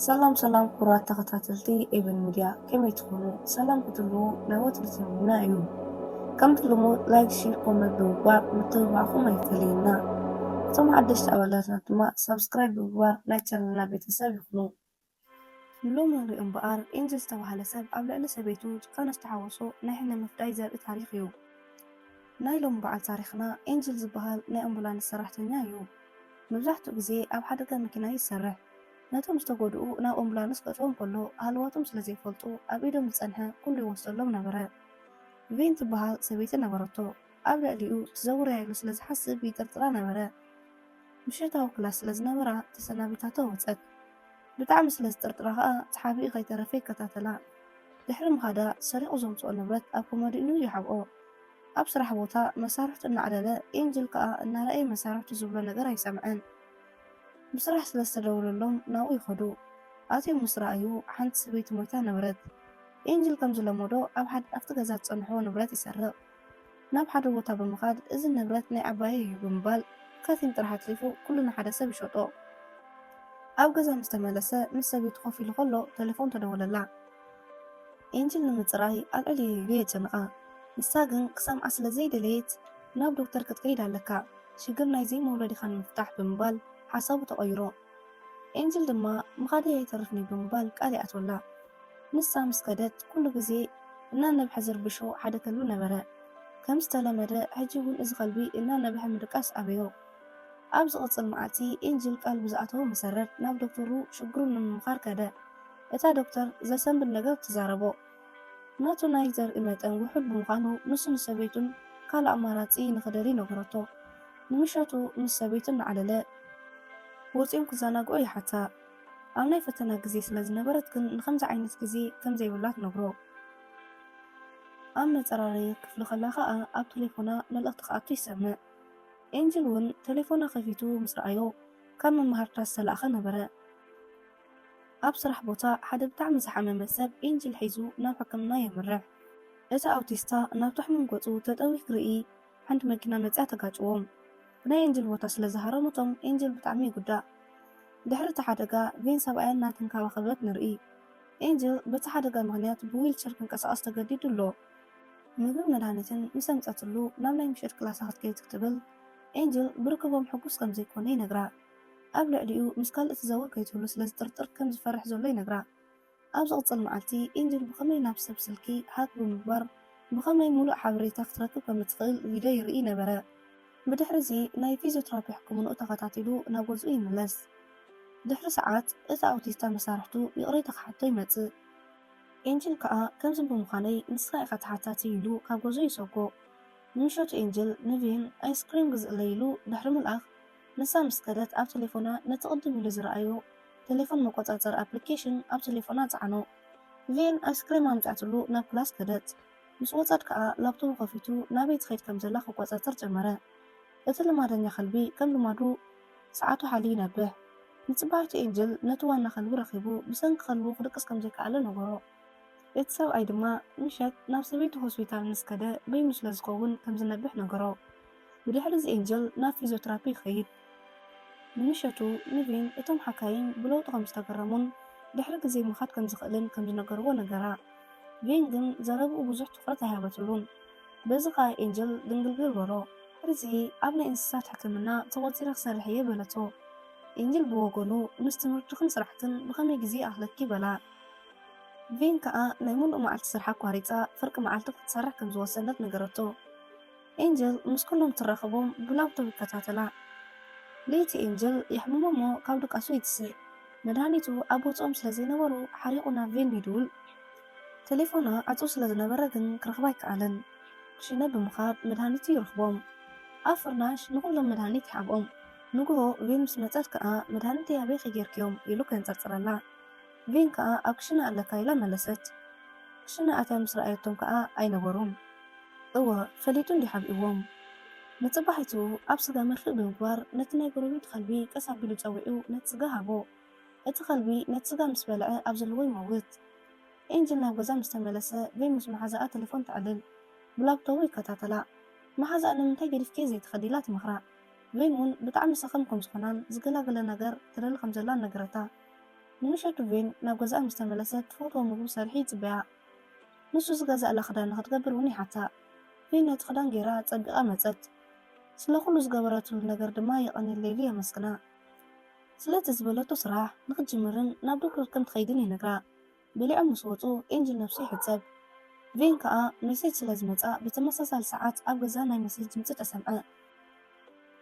ሰላም ሰላም ክቡራት ተኸታተልቲ ኤቨን ሚድያ ከመይ ትኾኑ? ሰላም ክትህልዉ ናይ ወትሩ ትምኒትና እዩ። ከምቲ ልሙድ ላይክ፣ ሼር፣ ኮመንት ብምግባር ምትብባዕኹም ኣይፈለየና። እቶም ሓደሽቲ ኣባላትና ድማ ሳብስክራይብ ብምግባር ናይ ቻነልና ቤተሰብ ይኹኑ። ንሎሚ ንሪኦ እምበኣር ኤንጅል ዝተባህለ ሰብ ኣብ ልዕሊ ሰበይቱ ጭካነ ዝተሓወሶ ናይ ሕነ ምፍዳይ ዘርኢ ታሪኽ እዩ። ናይ ሎሚ በዓል ታሪኽና ኤንጅል ዝበሃል ናይ ኣምቡላንስ ሰራሕተኛ እዩ። መብዛሕትኡ ግዜ ኣብ ሓደጋ መኪና ይሰርሕ። ነቶም ዝተጎድኡ ናብ ኦምቡላንስ ከእትዎም ከሎ ሃለዋቶም ስለ ዘይፈልጡ ኣብ ኢዶም ዝጸንሐ ኩሉ ይወስደሎም ነበረ። ቪን ትበሃል ሰበይቲ ነበረቶ። ኣብ ልዕሊኡ ትዘውር እያ ኢሉ ስለ ዝሓስብ ይጥርጥራ ነበረ። ምሸታዊ ክላስ ስለ ዝነበራ ተሰናቢታቶ ወጸት። ብጣዕሚ ስለ ዝጥርጥራ ከኣ ተሓቢኡ ከይተረፈ ይከታተላ። ድሕሪ ምኻዳ ሰሪቑ ዘምጽኦ ንብረት ኣብ ኮመዲንኡ ይሓብኦ። ኣብ ስራሕ ቦታ መሳርሕቱ እናዕለለ ኤንጅል ከኣ እናረኣየ መሳርሕቱ ዝብሎ ነገር ኣይሰምዐን። ብስራሕ ስለ ዝተደወለሎም ናብኡ ይኸዱ። ኣትዮም ምስ ረኣዩ ሓንቲ ሰበይቲ ሞይታ ነበረት። ኤንጅል ከም ዝለመዶ ኣብ ሓደ ኣብቲ ገዛ ዝጸንሖ ንብረት ይሰርቕ። ናብ ሓደ ቦታ ብምኻድ እዚ ንብረት ናይ ዓባየይ እዩ ብምባል ከቲም ጥራሕ ኣትሪፉ ኩሉ ንሓደ ሰብ ይሸጦ። ኣብ ገዛ ምስ ተመለሰ ምስ ሰበይቱ ኮፍ ኢሉ ከሎ ተሌፎን ተደወለላ። ኤንጅል ንምጽራይ ኣልዕል ኢሉ የጨንቓ። ንሳ ግን ክሰምዓ ስለ ዘይደለየት፣ ናብ ዶክተር ክትከይድ ኣለካ፣ ሽግር ናይ ዘይመውለዲኻ ንምፍታሕ ብምባል ሓሳቡ ተቐይሮ። ኤንጅል ድማ ምኻደይ ኣይተርፍን'ዩ ብምባል ቃል ይኣትወላ። ንሳ ምስ ከደት ኩሉ ግዜ እናነብሐ ዝርብሾ ሓደ ከልቢ ነበረ። ከም ዝተለመደ ሕጂ እውን እዚ ከልቢ እናነብሐ ምድቃስ ኣበዮ። ኣብ ዝቕጽል መዓልቲ ኤንጅል ቃል ብዝኣተዎ መሰረት ናብ ዶክተሩ ሽግሩ ንምምኻር ከደ። እታ ዶክተር ዘሰንብድ ነገር ትዛረቦ። ናቱ ናይ ዘርኢ መጠን ውሑድ ብምዃኑ ንሱ ንሰበይቱን ካልእ ኣማራጺ ንኽደልይ ነገረቶ። ንምሸቱ ምስ ሰበይቱ እናዕለለ ወጺኦም ክዘናግዑ ይሓታ። ኣብ ናይ ፈተና ግዜ ስለ ዝነበረት ግን ንኸምዚ ዓይነት ግዜ ከም ዘይብላ ትነግሮ። ኣብ መጸራረዪ ክፍሊ ከላ ከኣ ኣብ ተሌፎና መልእኽቲ ክኣቱ ይሰምዕ። ኤንጅል እውን ተሌፎና ከፊቱ ምስ ረኣዮ ካብ መማህርታ ዝተላእከ ነበረ። ኣብ ስራሕ ቦታ ሓደ ብጣዕሚ ዝሓመመ ሰብ ኤንጅል ሒዙ ናብ ሕክምና የምርሕ። እቲ ኣውቲስታ ናብቲ ሕሙም ገጹ ተጠውዩ ክርኢ ሓንቲ መኪና መጺኣ ተጋጭዎም። ናይ ኤንጅል ቦታ ስለ ዝሃረመቶም ኤንጅል ብጣዕሚ ይጉዳእ። ድሕሪ እቲ ሓደጋ ቬን ሰብኣያ እናተንከባኸበት ንርኢ። ኤንጅል በቲ ሓደጋ ምኽንያት ብዊልቸር ክንቀሳቐስ ተገዲዱ ኣሎ። ምግብን መድሃኒትን ምስ ኣምጸትሉ ናብ ናይ ምሸት ክላሳ ክትከይድ ክትብል ኤንጅል ብርክቦም ሕጉስ ከም ዘይኮነ ይነግራ። ኣብ ልዕሊኡ ምስ ካልእ ትዘውር ከይትህሉ ስለ ዝጥርጥር ከም ዝፈርሕ ዘሎ ይነግራ። ኣብ ዝቕጽል መዓልቲ፣ ኤንጅል ብኸመይ ናብ ሰብ ስልኪ ሃክ ብምግባር ብኸመይ ምሉእ ሓበሬታ ክትረክብ ከም እትኽእል ቪድዮ ይርኢ ነበረ። ብድሕርዚ ናይ ፊዝዮትራፒ ሕክምንኡ ተኸታቲሉ ናብ ገዝኡ ይምለስ። ድሕሪ ሰዓት፣ እቲ ኣውቲስታ መሳርሕቱ ይቕሬታ ክሓቶ ይመጽእ። ኤንጅል ከኣ ከምዚ ብምዃነይ ንስኻ ኢኻ ተሓታቲ ኢሉ ካብ ገዝኡ ይሰጎ። ንምሸቱ ኤንጅል ንቪን ኣይስክሪም ግዝእለይ ኢሉ ድሕሪ ምልኣኽ፣ ንሳ ምስ ከደት ኣብ ተሌፎና ነቲ ቅድም ኢሉ ዝረኣዮ ተሌፎን መቆጻጸሪ ኣፕሊኬሽን ኣብ ተሌፎና ጸዓኖ። ቪን ኣይስክሬም ኣምጺኣትሉ ናብ ክላስ ከደት። ምስ ወጸት ከኣ ላፕቶቡ ከፊቱ ናበይ ትኸይድ ከም ዘላ ክቆጻጸር ጀመረ። እቲ ልማደኛ ከልቢ ከም ልማዱ ሰዓቱ ሓልዩ ይነብሕ። ንጽባሒቱ ኤንጅል ነቲ ዋና ከልቢ ረኺቡ ብሰንኪ ከልቡ ክድቅስ ከም ዘይከኣለ ነገሮ። እቲ ሰብኣይ ድማ ምሸት ናብ ሰበይቱ ሆስፒታል ምስ ከደ በይኑ ስለ ዝኸውን ከም ዝነብሕ ነገሮ። ብድሕሪ'ዚ ኤንዞ ናብ ፊዝዮትራፒ ይኸይድ። ንምሸቱ ኒቪን እቶም ሓካይም ብለውጡ ከም ዝተገረሙን ድሕሪ ግዜ ምኻድ ከም ዝኽእልን ከም ዝነገርዎ ነገራ። ቪን ግን ዘረብኡ ብዙሕ ትኹረት ኣይሃበትሉን። በዚ ኸኣ ኤንዞ ድንግርግር በሎ። ድሕሪ'ዚ ኣብ ናይ እንስሳት ሕክምና ተቖጺረ ክሰርሕ እየ በለቶ። ኤንዞ ብወገኑ ምስ ትምህርትኽን ስራሕክን ብኸመይ ግዜ ይኣኽለኪ? በላ። ቪን ከኣ ናይ ምሉእ መዓልቲ ስርሓ ኣቋሪጻ ፍርቂ መዓልቲ ክትሰርሕ ከም ዝወሰነት ነገረቶ። ኤንጀል ምስ ኩሎም ትራኸቦም ብላብቶብ ይከታተላ። ለይቲ ኤንጀል የሕምሞ'ሞ ካብ ድቃሱ ይትስእ። መድሃኒቱ ኣብ ቦትኦም ስለ ዘይነበሩ ሓሪቑ ናብ ቬንዱ ይድውል። ተሌፎና ዕጹው ስለ ዝነበረ ግን ክረኽባ ኣይከኣለን። ሽነ ብምኻድ መድሃኒቱ ይረኽቦም። ኣብ ፍርናሽ ንኹሎም መድሃኒት ይሓብኦም። ንግሆ ቬን ምስ መጸት ከኣ መድሃኒተይ ኣበይኺ ጌርክዮም? ኢሉ ከንጸርጽረላ። ቪን ከኣ ኣብ ክሽነ ኣለካ ኢላ መለሰት። ክሽነ ኣትያ ምስ ረኣየቶም ከኣ ኣይነበሩን። እወ ፈሊጡ እንድዩ ሓቢእዎም። ንጽባሒቱ ኣብ ስጋ መርፍእ ብምግባር ነቲ ናይ ጎረቤቱ ከልቢ ቀስ ኣቢሉ ጸዊዑ ነቲ ስጋ ሃቦ። እቲ ከልቢ ነቲ ስጋ ምስ በልዐ ኣብ ዘለዎ ይመውት። ኤንጅል ናብ ገዛ ምስ ተመለሰ ቪን ምስ መሓዛኣ ተለፎን ተዕልል። ብላፕቶቡ ይከታተላ። መሓዛኣ ንምንታይ ገዲፍክዮ ዘይትኸዲ ኢላ ትመኽራ። ቪን ውን ብጣዕሚ ሰኸም ከም ዝኾናን ዝገላግለ ነገር ትደሊ ከም ዘላን ነገረታ። ንምሸቱ ቬን ናብ ገዛኣ ምስ ተመለሰት ትፈትዎ ምግቡ ሰሪሑ ይጽበያ። ንሱ ዝገዝኣላ ክዳን ንኽትገብር እውን ይሓታ። ቬን ነቲ ክዳን ገይራ ኣጸቢቓ መጸት። ስለ ኹሉ ዝገበረትሉ ነገር ድማ የቐንየላ ኢሉ የመስግና። ስለቲ ዝበለቶ ስራሕ ንኽትጅምርን ናብ ዶክተር ከም ትኸይድን ይነግራ። በሊዖም ምስ ወጹ ኤንጅል ነብሱ ይሕጸብ ቬን ከኣ መሴጅ ስለ ዝመጻ ብተመሳሳሊ ሰዓት ኣብ ገዛ ናይ መሴጅ ድምጺ ተሰምዐ።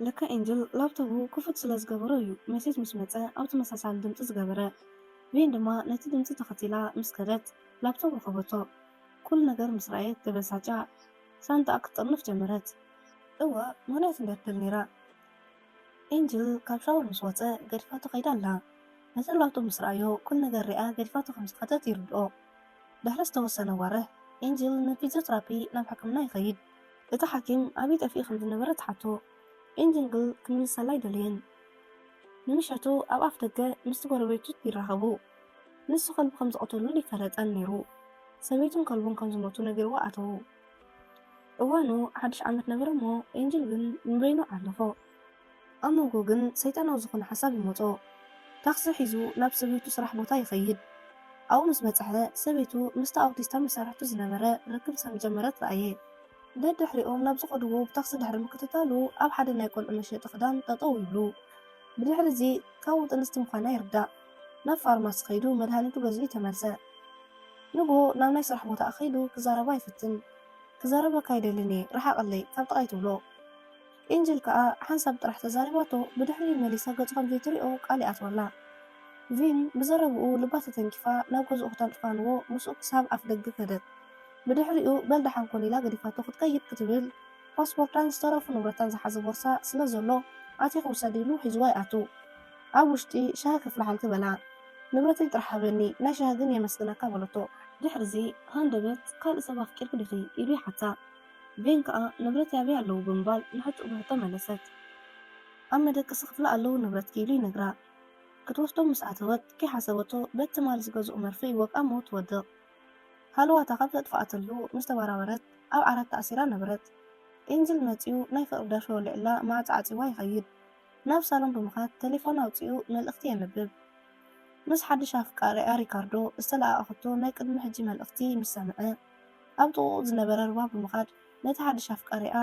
ለካ ኤንጅል ላፕቶቡ ክፉት ስለ ዝገበሮ እዩ መሴጅ ምስ መጸ ኣብ ተመሳሳሊ ድምጺ ዝገበረ። ቬን ድማ ነቲ ድምጺ ተኸቲላ ምስ ከደት ላፕቶብ ረኸበቶ። ኩሉ ነገር ምስ ረኣየት ተበሳጭያ ሳንጣኣ ክትጥርንፍ ጀመረት። እወ ምኽንያት እንድያ ትደሊ ነይራ። ኤንጅል ካብ ሻወር ምስ ወጸ ገዲፋቶ ከይዳ ኣላ። ንጽላውቱ ምስ ረኣዮ ኩሉ ነገር ሪኣ ገዲፋቶ ከም ዝኸደት ይርድኦ። ድሕሪ ዝተወሰነ ወርሕ፣ ኤንጅል ንፊዝዮትራፒ ናብ ሕክምና ይኸይድ። እቲ ሓኪም ኣበይ ጠፊኡ ከም ዝነበረ ትሓቶ፣ ኤንጅል ግን ክምልሰላ ኣይደለየን። ንምሸቱ ኣብ ኣፍደገ ምስቲ ጎረቤቱ ይራኸቡ። ንሱ ከልቡ ከም ዝቐተሉሉ ኣይፈለጠን ነይሩ። ሰበይቱን ከልቡን ከም ዝሞቱ ነጊርዎ ኣተዉ። እዋኑ ሓድሽ ዓመት ነበረ'ሞ ኤንጅል ግን ንበይኑ ዓለፎ። ኣብ መንጎ ግን ሰይጣናዊ ዝኾነ ሓሳብ ይመጾ። ታክሲ ሒዙ ናብ ሰበይቱ ስራሕ ቦታ ይኸይድ። ኣብኡ ምስ በጽሐ ሰበይቱ ምስታ ኣውቲስታ መሳርሕቱ ዝነበረ ርክብ ከም ጀመረት ረኣየ። ደድሕሪኦም ናብ ዝኸድዎ ብታክሲ ድሕሪ ምክትታሉ ኣብ ሓደ ናይ ቆልዑ መሸጢ ክዳን ጠጠው ይብሉ። ብድሕሪ እዚ ካብኡ ጥንስቲ ምዃና ይርዳእ። ናብ ፋርማሲ ከይዱ መድሃኒቱ ገዚኡ ተመልሰ። ንግሆ ናብ ናይ ስራሕ ቦታኣ ከይዱ ክዛረባ ይፍትን። ክዛረበካ ኣይደልን እየ ርሓቐለይ ካብ ጥቓይ ትብሎ። ኤንጅል ከኣ ሓንሳብ ጥራሕ ተዛሪባቶ ብድሕሪኡ መሊሳ ገጹ ከም ዘይትሪኦ ቃል ይኣትወላ። ቪን ብዘረብኡ ልባ ተተንኪፋ ናብ ገዝኡ ክተንጥፋንዎ ምስኡ ክሳብ ኣፍደገ ከደት። ብድሕሪኡ በል ደሓን ኩን ኢላ ገዲፋቶ ክትከይድ ክትብል ፓስፖርታን ዝተረፉ ንብረታን ዝሓዘ ቦርሳ ስለ ዘሎ ኣቲኪ ውሰዲ ኢሉ ሒዝዋ ይኣቱ። ኣብ ውሽጢ ሻሂ ከፍልሓልኪ በላ። ንብረተይ ጥራሕ ሃበኒ ናይ ሻሂ ግን የመስግነካ በለቶ። ድሕሪዚ ሃንደበት ካልእ ሰብ ኣፍቂርኪ ዲኺ ኢሉ ይሓታ። ቬን ከኣ ንብረተይ ኣበይ ኣለዉ ብምባል ንሕቶኡ ብሕቶ መለሰት። ኣብ መደቀሲ ክፍላ ኣለዉ ንብረትኪ ኢሉ ይነግራ። ክትወስዶም ምስ ኣተወት ከይሓሰበቶ በቲ ትማል ዝገዝኦ መርፍእ ይወግ ኣብ ሞት ትወድቕ። ሃለዋታ ካብ ዘጥፍኣትሉ ምስ ተበራበረት ኣብ ዓራት ተኣሲራ ነበረት። ኤንጅል መጺኡ ናይ ፍቕሪ ደርፊ ወሊዑላ ማዕጾ ዓጺዋ ይኸይድ። ናብ ሳሎን ብምኻድ ተሌፎና ኣውጺኡ መልእኽቲ የንብብ። ምስ ሓድሽ ኣፍቃሪኣ ሪካርዶ ዝተለኣኣኸቶ ናይ ቅድሚ ሕጂ መልእኽቲ ምስ ሰምዐ። ኣብ ጥቕኡ ዝነበረ ሩባ ብምኻድ ነቲ ሓድሽ ኣፍቃሪኣ፣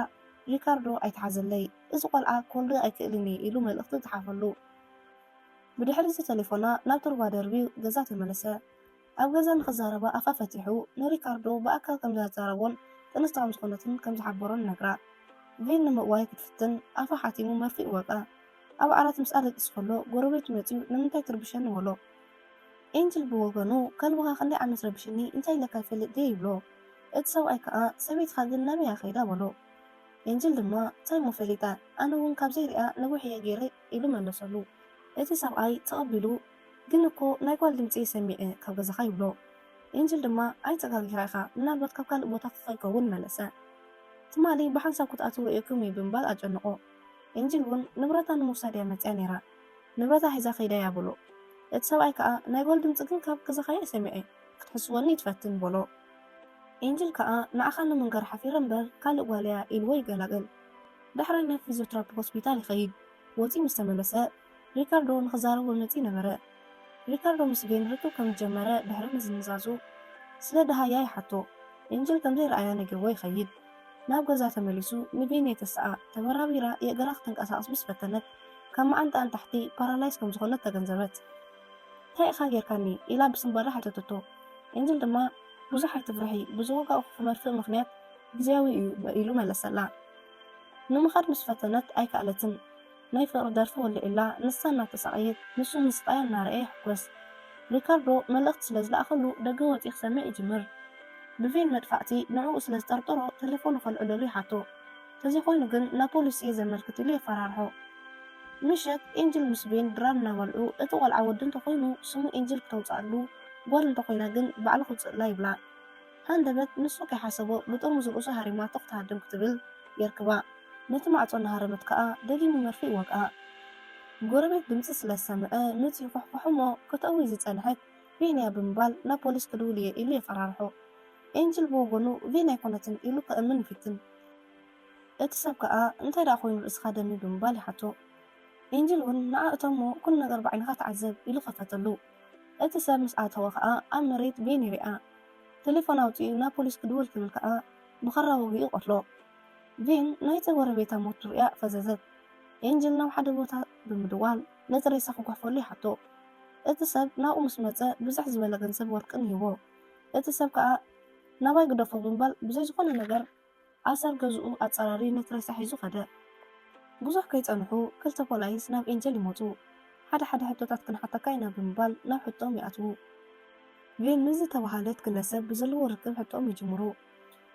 ሪካርዶ ኣይትሓዘለይ፣ እዚ ቆልዓ ክወልድ ኣይክእልን እየ ኢሉ መልእኽቲ ጸሓፈሉ። ብድሕሪ'ዚ ተሌፎና ናብቲ ሩባ ደርብዩ ገዛ ተመለሰ። ኣብ ገዛ ንኽዛረባ ኣፋ ፈቲሑ ንሪካርዶ ብኣካል ከም ዘዛረቦን ጥንስቲ ከም ዝኾነትን ከም ዝሓበሮን ነግራ። ቪን ንምእዋይ ክትፍትን ኣፋ ሓቲሙ መርፍእ ወቕኣ። ኣብ ዓራት ምስኣ ደቂሱ ከሎ ጎረቤቱ መጺኡ ንምንታይ ትርብሸኒ በሎ። ኤንጅል ብወገኑ ከልብኻ ክንደይ ዓመት ረቢሽኒ እንታይ ኢለካ ይፈልጥ ድየ ይብሎ እቲ ሰብኣይ ከኣ ሰበይትኻ ግን ናበይ እያ ከይዳ በሎ ኤንጅል ድማ ታይ እሞ ፈሊጠ ኣነ ውን ካብ ዘይርእያ ነዊሕ እየ ጌረ ኢሉ መለሰሉ እቲ ሰብኣይ ተቐቢሉ ግን እኮ ናይ ጓል ድምጺ እየ ሰሚዐ ካብ ገዛኻ ይብሎ ኤንጅል ድማ ኣይተጋጊኻ ኢኻ ምናልባት ካብ ካልእ ቦታ ከይከውን መለሰ ትማሊ ብሓንሳብ ክትኣትው ርእየኩም እየ ብምባል ኣጨነቖ ኤንጅል ውን ንብረታ ንምውሳድ እያ መጺኣ ኔራ ንብረታ ሒዛ ከይዳ እያ በሎ። እቲ ሰብኣይ ከኣ ናይ ጓል ድምጺ ግን ካብ ገዛኻ እየ ሰሚዐ፣ ክትሕስወኒ ኣይትፈትን በሎ። ኤንጅል ከኣ ንዓኻ ንምንጋር ሓፊረ እምበር ካልእ ጓል እያ ኢልዎ ይገላገል። ዳሕራይ ናብ ፊዝዮትራፒ ሆስፒታል ይኸይድ። ወጺኡ ምስ ተመለሰ ሪካርዶ ንኽዛረቦ መጺኡ ነበረ። ሪካርዶ ምስ ቤን ርክብ ከም ዝጀመረ ድሕሪ ምዝንዛዙ ስለ ደሃያ ይሓቶ። ኤንጅል ከም ዘይረኣያ ነጊርዎ ይኸይድ። ናብ ገዛ ተመሊሱ ንቤኒ የተስኣ። ተበራቢራ የእግራ ክትንቀሳቐስ ምስ ፈተነት ካብ መዓንጥኣ ንታሕቲ ፓራላይዝ ከም ዝኾነት ተገንዘበት። እንታይ ኢኻ ጌርካኒ? ኢላ ብስንባደ ሓተተቶ። ኤንጅል ድማ ብዙሕ ኣይትፍርሒ፣ ብዝወጋእኩኺ መርፍእ ምኽንያት ግዝያዊ እዩ ኢሉ መለሰላ። ንምኻድ ምስ ፈተነት ኣይከኣለትን። ናይ ፍቕሪ ደርፊ ወሊዑላ፣ ንሳ እናተሳቐየት፣ ንሱ ንስቓያ እናረኣየ ይሕጎስ። ሪካርዶ መልእኽቲ ስለ ዝለኣኸሉ ደገ ወጺኡ ክሰምዕ ይጅምር። ብቬን መድፋዕቲ ንዕኡ ስለ ዝጠርጠሮ ተሌፎኑ ከልዕለሉ ይሓቶ። ተዘይኮይኑ ግን ናብ ፖሊስ እየ ዘመልክት ኢሉ የፈራርሖ። ምሸት ኤንጅል ምስ ቬን ድራር እናበልዑ፣ እቲ ቆልዓ ወዲ እንተኾይኑ ስሙ ኤንጅል ክተውጽኣሉ፣ ጓል እንተኾይና ግን ባዕሉ ክውጽእላ ይብላ። ሃንደበት ንሱ ከይሓሰቦ ብጥርሙዝ ርእሱ ሃሪማቶ ክትሃድም ክትብል የርክባ። ነቲ ማዕጾ እናሃረመት ከኣ ደጊሙ መርፍእ ይወግኣ። ጎረቤት ድምጺ ስለ ዝሰምዐ መጺኡ ኳሕኳሖ'ሞ ከተእዊ ዝጸንሐት ቬንያ ብምባል ናብ ፖሊስ ክድውል'የ ኢሉ የፈራርሖ። ኤንጅል ብወገኑ ቬንያ ኣይኮነትን ኢሉ ከእምን ይፍትን። እቲ ሰብ ከኣ እንታይ ደኣ ኮይኑ ርእስኻ ደሚ ብምባል ይሓቶ። ኤንጅል'ውን ንዓ እቶ'ሞ ኩሉ ነገር ብዓይንኻ ተዓዘብ ኢሉ ከፈተሉ። እቲ ሰብ ምስ ኣተወ ከኣ ኣብ መሬት ቬን ይርኣ። ተሌፎን ኣውጺኡ ናብ ፖሊስ ክድውል ክብል ከኣ ብኻራ ወጊኡ ይቐትሎ። ቬን ናይቲ ጎረቤታ ሞት ርእያ ፈዘዘት። ኤንጅል ናብ ሓደ ቦታ ብምድዋል ነቲ ሬሳ ክጉሕፈሉ ይሓቶ። እቲ ሰብ ናብኡ ምስ መጸ ብዝሕ ዝበለ ገንዘብ ወርቅን ይህቦ። እቲ ሰብ ከኣ ናባይ ግደፎ ብምባል ብዘይ ዝኾነ ነገር ኣሰር ገዝኡ ኣጻራሪ ነት ሬሳ ሒዙ ከደ። ብዙሕ ከይጸንሑ ክልተ ፖላይስ ናብ ኤንጀል ይመጹ። ሓደ ሓደ ሕቶታት ክንሓተካ ኢና ብምባል ናብ ሕቶኦም ይኣትዉ። ቬን ምስ ዝተባህለት ግለሰብ ብዘለዎ ርክብ ሕቶኦም ይጅምሩ።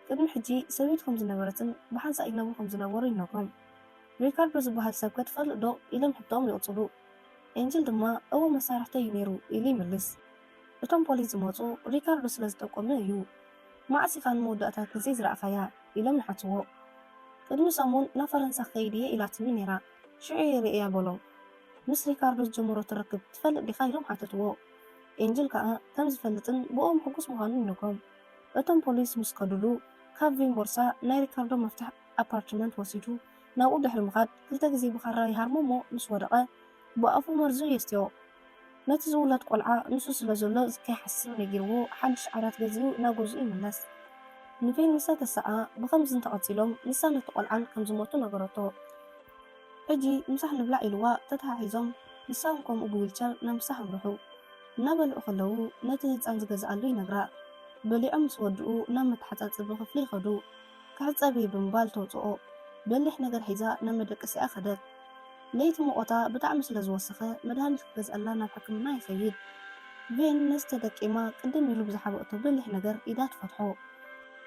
ቅድሚ ሕጂ ሰበይቱ ከም ዝነበረትን ብሓንሳእ ይነብሩ ከም ዝነበሩ ይነግሮም። ሪካርዶ ዝበሃል ሰብከ ትፈልጥዶ? ኢሎም ሕቶኦም ይቕጽሉ። ኤንጀል ድማ እወ መሳርሕተይ እዩ ነይሩ ኢሉ ይምልስ። እቶም ፖሊስ ዝመጹ ሪካርዶ ስለ ዝጠቆመ እዩ። መዓስ ኢኻ ንመወዳእታ ግዜ ዝረኣኻያ? ኢሎም ይሓትዎ። ቅድሚ ሰሙን ናብ ፈረንሳ ክኸይድ እየ ኢላትኒ ነይራ፣ ሽዑ እየ ርእየያ በሎም። ምስ ሪካርዶ ዝጀመረቶ ርክብ ትፈልጥ ዲኻ? ኢሎም ሓተትዎ። ኤንጅል ከኣ ከም ዝፈልጥን ብእኦም ሕጉስ ምዃኑን ይነግሮም። እቶም ፖሊስ ምስ ከዱሉ፣ ካብ ቪን ቦርሳ ናይ ሪካርዶ መፍትሕ ኣፓርትመንት ወሲዱ ናብኡ ድሕሪ ምኻድ ክልተ ግዜ ብኻራ ይሃርሞ'ሞ ምስ ወደቐ ብኣፉ መርዙ የስትዮ። ነቲ ዝውለድ ቆልዓ ንሱ ስለ ዘሎ ከይሓስብ ነጊርዎ ሓድሽ ዓራት ገዚኡ ናብ ገዝኡ ይምለስ። ንቬን ምስ ኣተሰኣ ብኸምዚ እንተቐጺሎም ንሳ ነቲ ቆልዓን ከም ዝሞቱ ነገረቶ። ሕጂ ምሳሕ ንብላዕ ኢልዋ ተተሓሒዞም ንሳ'ውን ከምኡ ብዊልቸር ናብ ምሳሕ ኣምርሑ። እናበልዑ ከለዉ ነቲ ህጻን ዝገዝኣሉ ይነግራ። በሊዖም ምስ ወድኡ ናብ መተሓጻጸቢ ክፍሊ ይኸዱ። ክሕጸብ'የ ብምባል ተውጽኦ። በሊሕ ነገር ሒዛ ናብ መደቀሲኣ ከደት። ለይቲ ሙቐታ ብጣዕሚ ስለ ዝወሰኸ መድሃኒት ክገዝኣላ ናብ ሕክምና ይኸይድ። ቬን ነዚ ተጠቂማ ቅድም ኢሉ ብዝሓበኦቶ በሊሕ ነገር ኢዳ ትፈትሖ።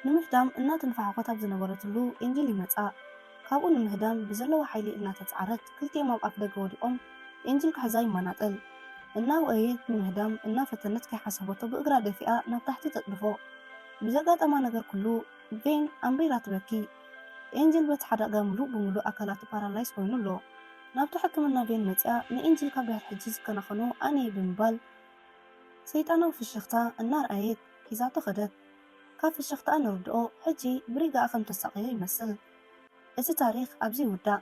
ንምሕዳም እናተንፋሕኾት ኣብ ዝነበረትሉ ኤንጅል ይመጻ። ካብኡ ንምህዳም ብዘለዋ ሓይሊ እናተጽዓረት ክልቲኦም ኣብ ኣፍደገ ወዲቖም ኤንጅል ክሕዛ ይማናጠል። እናወእየት ንምህዳም እናፈተነት ከይሓሰበቶ ብእግራ ደፊኣ ናብ ታሕቲ ተጥድፎ። ብዘጋጠማ ነገር ኩሉ ቬን ኣምሪራ ትበኪ። ኤንጅል በቲ ሓደጋ ምሉእ ብምሉእ ኣካላቱ ፓራላይዝ ኮይኑ ኣሎ። ናብቲ ሕክምና ቬን መጺኣ ንኤንጅል ካብ ድሕሪ ሕጂ ዝከናኸኖ ኣነ'የ ብምባል ሰይጣናዊ ፍሽኽታ እናርኣየት ሒዛቶ ከደት። ካብ ፍሽኽታኣ ንርድኦ ሕጂ ብሪጋኣ ከም ተሳቕዮ ይመስል። እቲ ታሪኽ ኣብዚ ይውዳእ።